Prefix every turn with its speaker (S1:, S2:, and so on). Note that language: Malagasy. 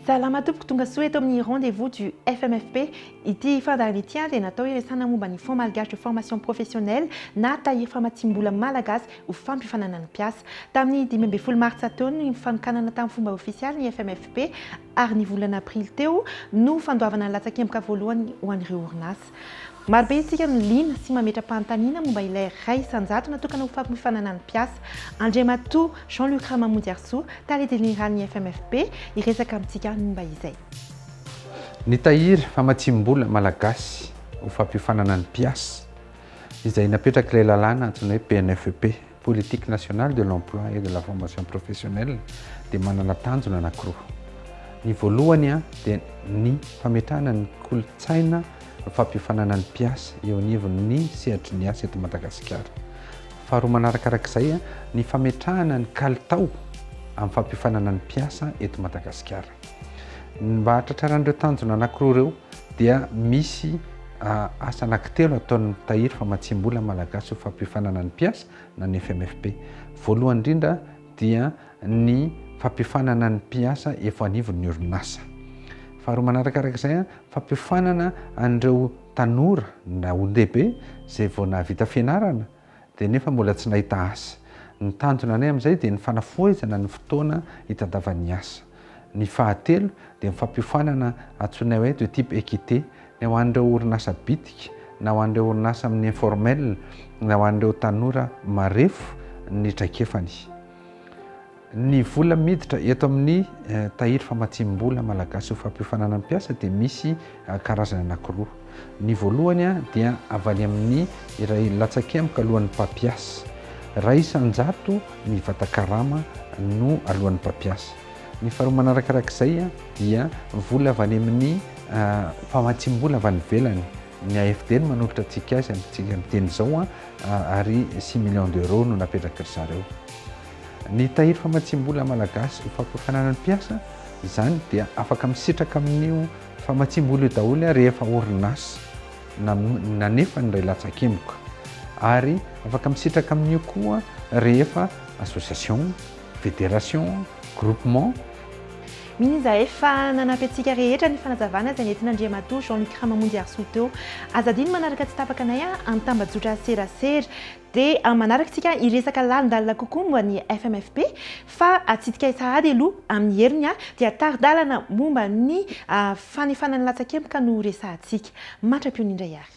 S1: Salama tompoko, tonga soa eto amin'ny rendez vous du FMFP. Ity fandaharana ity dia natao hiresana momba ny Fonds malgache de formation professionnelle na tahiry famatsiam-bola malagasy ho fampifanana ny mpiasa. Tamin'ny dimy ambin'ny folo martsa teo no nifanokanana tamin'ny fomba ofisialy ny FMFP ary ny volana aprily teo no fandoavana ny latsakemboka voalohany ho an'ireo orinasa. Marobe isika no liana sy mametra-panontaniana momba ilay iray isan-jato natokana ho fampifananan'ny mpiasa. Andriamatoa Jean Luc Ramamonjiarisoa, Tale Jeneralin'ny FMFP, hiresaka amintsika momba izay. Nitahiry famatsiam-bola malagasy ho fampifananan'ny mpiasa, izay napetrak'ilay lalàna antsoina hoe PNFP, Politique nationale de l'emploi et de la formation professionnelle dia manana tanjona anankiroa. Ny voalohany dia ny fametrahana ny kolontsaina fampiofanana ny mpiasa eo anivon'ny sehatry ny asa eto Madagasikara. Faharoa manarakaraka izay, ny fametrahana ny kalitao amin'ny fampiofanana ny mpiasa eto Madagasikara. Mba hahatratrarana ireo tanjona anankiroa ireo, dia misy asa anankitelo ataon'ny Tahiry famatsiam-bola malagasy ho fampiofanana ny mpiasa na ny FMFP. Voalohany indrindra dia ny fampiofanana ny mpiasa efa anivon'ny orinasa. Faharoa manarakaraka izay, fampiofanana an'ireo tanora na olon-dehibe izay vao nahavita fianarana dia nefa mbola tsy nahita asa. Ny tanjona anay amin'izay dia ny fanafohezana ny fotoana hitandavan'ny asa. Ny fahatelo dia ny fampiofanana antsoinay hoe de type équité ny ho an'ireo orinasa bitika na ho an'ireo orinasa amin'ny informel na ho an'ireo tanora marefo ny traikefany. Ny vola miditra eto amin'ny tahiry famatsiam-bola malagasy ho fampiofanana ny mpiasa dia misy karazany anankiroa. Ny voalohany dia avy any amin'ny iray latsakemboka alohan'ny mpampiasa. Iray isan-jato ny vata-karama no aloan'ny mpampiasa. Ny faharoa manarakarak'izay dia vola avy any amin'ny famatsiam-bola avy any ivelany. Ny AFD no manolotra antsika azy amin'izao ary six millions d'euros no napetraky ry zareo. Ny tahiry famatsiam-bola malagasy ho fampiakarana ny mpiasa, izany dia afaka misitraka amin'io famatsiam-bola io daholo ary efa orinasa nanefa ny iray latsakemboka. Ary afaka misitraka amin'io koa rehefa association, fédération, groupement, Mino izahay fa nanampy antsika rehetra ny fanazavana izay nentin'Andriamatoa Jean Luc Ramamonjy Harisoa teo. Aza adino manaraka tsy tapaka anay an, amin'ny tambajotra serasera. Dia amin'ny manaraka isika hiresaka lalindalina kokoa momba ny FMFP, fa atsidikay sahady aloha amin'ny heriny dia tari-dalana momba ny fanefana ny latsakemboka no resahantsika. Mantra-piony indray ary.